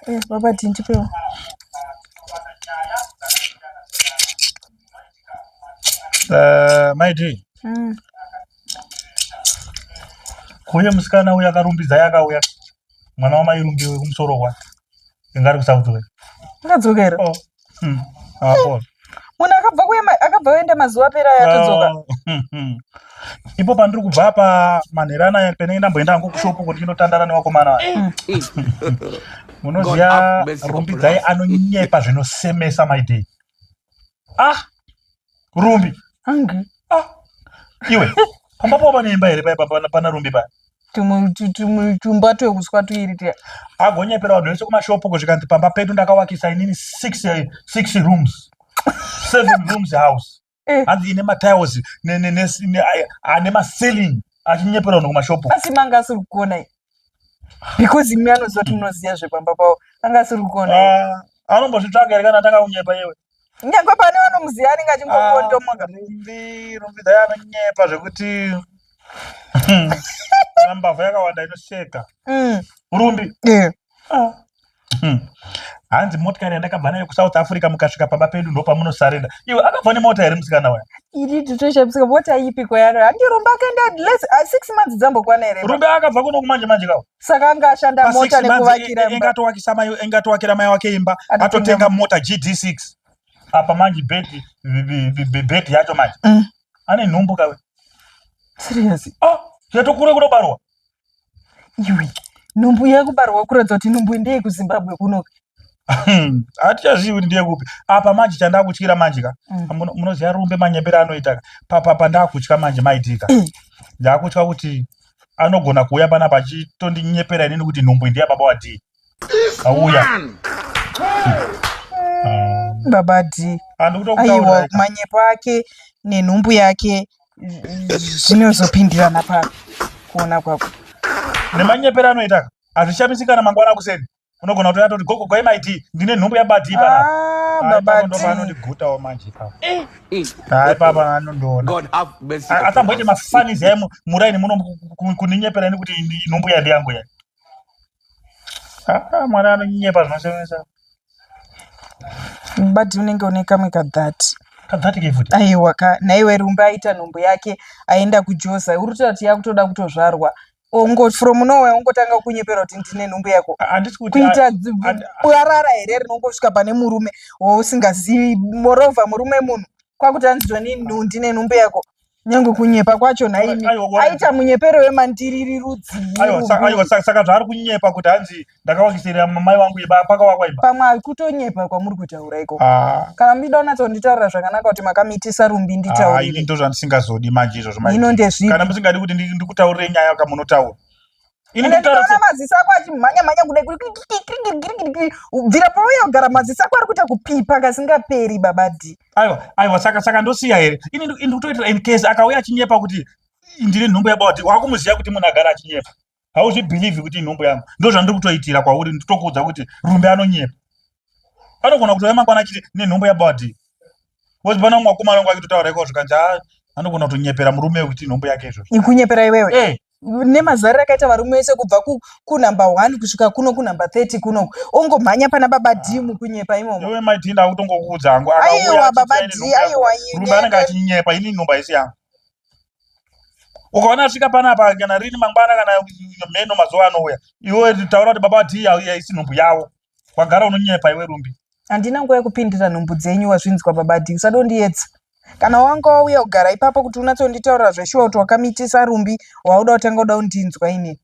Yes, Baba Tinti Peo. Uh, my dear. Mm. Kuye musikana uya akarumbidza yakauya mwana wamairumbiwe kumusoro kwake inga ari kusaudzokera ndadzokera Oh. Hmm. Hapo. munhu akabva kuema- akabva oenda mazuva apera aya atodzoka Oh. Hmm, hmm. ipo pandiri kubva apa manhera anaya penenge ndamboenda hangu kushopu kuti ndinotandara nevakomana vaya munoziva rumbidzai anonyepa zvinosemesa maidei ah Rumbi. Hangu. Ah. Iwe. Pamba pova neimba here paya pana pana Rumbi paya. Tumwe tumwe tumba twekuswa tuiri tiya. Agonyepera vanhu vese kumashopu kuzvikanzi pamba pedu ndakawakisa inini six eh, six rooms. Seven rooms house. Eh. Hanzi ine matiles ne ne ne ane maceiling achinyepera vanhu kumashopu. Asi manga asiri kukona. because imi anoziva kuti munoziva zvepamba pavo anga asiri kuona ah, anombozvitsvaga here kana atanga kunyepa iwe nyangwe pane vanomuziva anenge achingokondomoka ah, rumbi rumbi dai anonyepa zvekuti mbavha yakawanda inosheka mm. rumbi ah. Hmm. hanzi motikari yandakabva nayo kusouth africa mukasvika pamba pedu ndopamunosarenda iwe akabva nemota here musikana waya iri titoshamisika mota ipiko yaro andirumba akaenda les uh, six months dzambokwana here rumbe akabva kuno kumanje manje kawo saka anga ashanda mota nekuvakira engatowakisa mai engatowakira mai wake imba atotenga mota gd six apa manje bheti bheti yacho manje mm. ane nhumbu kawe serious oh yatokure kunobarwa iwe nhumbu yekubarwa kuratidza kuti nhumbu ndeye kuzimbabwe kunoka hatichazivi kuti ndiye kupi apa manje chandakutyira manje ka mm. munoziva rumbe manyembere anoita ka papapa ndakutya manje maitika mm. ndakutya kuti anogona kuuya panapa achitondinyeperai nini kuti nhumbu ndiya baba wadii auya baba d aiwa manyepo ake nenhumbu yake zvinozopindirana pa kuona kwako nemanyepero anoita hazvishamisi kana mangwana akuseni unogona kutoya toti gogo kwai maiti ndine nhumbu yabadii paaanondigutawo ah, manje ipapa eh, eh. hai papa anondoonaasamboite mafanizi aye muraini muno kuninyepera ini kuti nhumbu yandiyangu ya Ah, mwana anonyepa zvinosemesa mubati unenge une kamwe kadhati kadhati ke futi aiwa ka naiwe rumba aita nhumbu yake aenda kujoza uri kutoda kuti yakutoda kutozvarwa ongo from nowhere ongotanga kukunyepera kuti ndine nhumbu yako Ah, handisi kuti kuita dzi- and- bwarara here rinongosvika pane murume wausingazivi moreover murume munhu kwakuti anzwa nini ndine nhumbu yako nyange kunyepa kwacho nhaimi aita munyepero wemandiriri rudziisaka zvaari kunyepa kuti hanzi ndakawakisirira mai wangu iba pakawakwa iba pamwe akutonyepa kwamuri kutaura iko ah. kana muchida unatsonditaurira zvakanaka kuti makamiitisa rumbi nditaurire ah, ndo zvandisingazodi manje izvozvo ino ndezvii kana musingadi kuti ndikutaurire nyaya kamunotaura Ini ende ndikaona maziso ako achimhanya mhanya kudai kuri bvira pauya kugara maziso ako ari kuita kupipa kasingaperi baba d aiwa aiwa saka saka ndosiya here ini ini kutoitira in case akauya achinyepa kuti ndiri nhumbu yababa d wakumuziva kuti munhu agara achinyepa hauzvibhilivhi kuti inhumbu yangu ndo zvandiri kutoitira kwauri nditokuudza kuti rumbe anonyepa anogona kutouya mangwana achiti nenhumbu yababa d Wozi bana mwa kuma wangu akitotaura iko zvikanja ah, anogona kutonyepera murume wekuti nhombo yake izvo. Ikunyepera iwewe. Eh. Nemazara akaita varume wese kubva ku, ku number 1 kusvika kuno ku number 30 kuno. Ongo mhanya pana baba ah. D mukunyepa imomo. Iwe mai D ndakutongo kuudza hangu akauya. Aiwa baba D aiwa yini. Rume anenge achinyepa ini nhomba isi yangu. Ukaona asvika pana apa kana rini mangwana kana mheno mazuva anouya. Iwe taura kuti baba D auya isi nhombo yavo. wagara unonyepa iwe rumbi handina nguva yekupindira nhumbu dzenyu wazvinzwa babadi usadondiyedza kana wanga wauya kugara ipapo kuti unatsonditaurira zveshuwa kuti wakamitisa rumbi wauda utanga uda undinzwa ini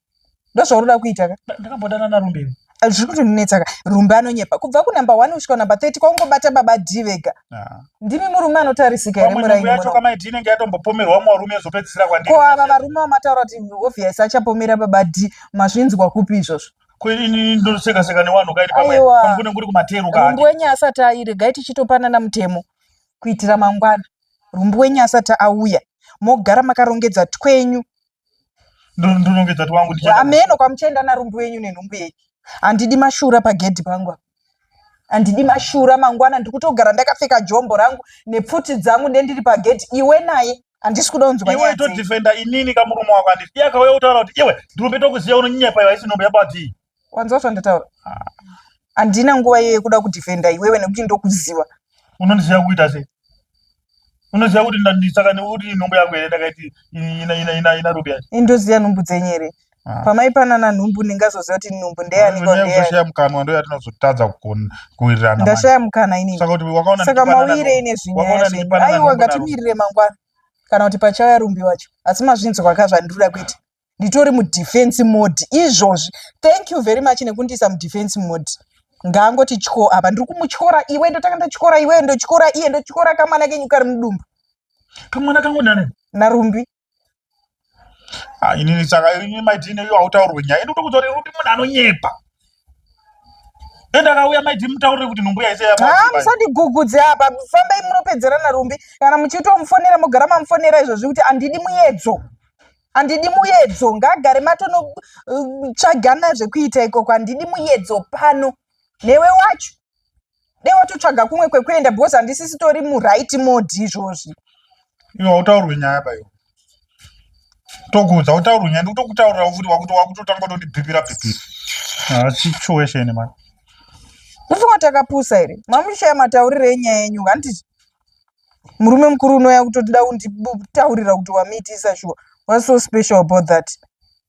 ndozvaunoda kuita ka ndakambodana narumbi iwe Ah, zviri kutondinetsa ka rumbi anonyepa kubva kunumber one kusvika number thirty kwaungobata baba d vega Ah. ndimi murume anotarisika here pamwe nhengo muraini yacho muno kamaiti inenge yatombopomerwa umwe warume yozopedzisira kwandiri ko ava varume vamataura kuti obvious achapomera baba d mazvinzwa kupi izvozvo kwenini ndoseka seka newanhu kaini pamwe pamukune nguri kumateru ka rumbu wenyu asati aire gai tichitopanana mutemo kuitira mangwana rumbu wenyu asati auya mogara makarongedza twenyu ndorongedza twangu ndiameno kwamuchaenda narumbu wenyu nenhumbu yenyu handidi mashura pagedhi pangu handidi mashura mangwana ndiri kutogara ndakapfeka jombo rangu nepfuti dzangu ndendiri pagedhi iwe naye handisi kuda unzwa iwe todefenda inini kamurume wako handisi iye akauya kutaura kuti iwe ndirumbe tokuziva unonyanya paiva isi nhombe yabatii wanzwa zvandataura handina nguva iyo yekuda kudefenda iwewe nekuti ndokuziva unondiziva kuita sei unoziva kuti ndisaka nekuti nhumbu yako here ndakaiti ina ina ina ina rubi yacho indoziva nhumbu dzenyu here ah. pamaipanana nhumbu ndingazoziva kuti nhumbu ndeyanikushaya mukanwa ndo yatinozotadza kuwirirana ndashaya mukana inisaka mawire ine zvinyaya aiwa ngatimirire mangwana kana kuti pachauya rumbi wacho asi mazvinzwa ka zvandiri kuda kuita nditori mudefense mode izvozvi thank you very much nekundiisa mudefense mode ngaangoti tyo apa ndiri kumutyora iwe ndotanga ndotyora iwe ndotyora iye ndotyora kamwana kenyu kari mudumbu kamwana kangu nani narumbi ah, inini saka ini maitine iyo hautaurwe nyaya ini utokuti rumbi munhu anonyepa endakauya maiti mutaurire kuti nhumbu yaise haa musandigugudze apa fambai munopedzerana rumbi kana muchitomufonera mogara mamufonera izvozvi kuti handidi muyedzo handidi muyedzo ngagare matonotsvagana zvekuita ikoko handidi muyedzo pano newe wacho dei watotsvaga kumwe kwekuenda bcause handisisitori muright mode izvozvi iwe hautaurwe nyaya payo tokuudza utaurwe nyaya ndikutokutaurira futi wakuti wakutotanga kutondibhibhira bhibhira haasi choesheni mani ufunga takapusa here mamushaya matauriro enyaya yenyu handiti murume mukuru unouya kutotida kunditaurira kuti wamuitisa shuwa whats so special about that.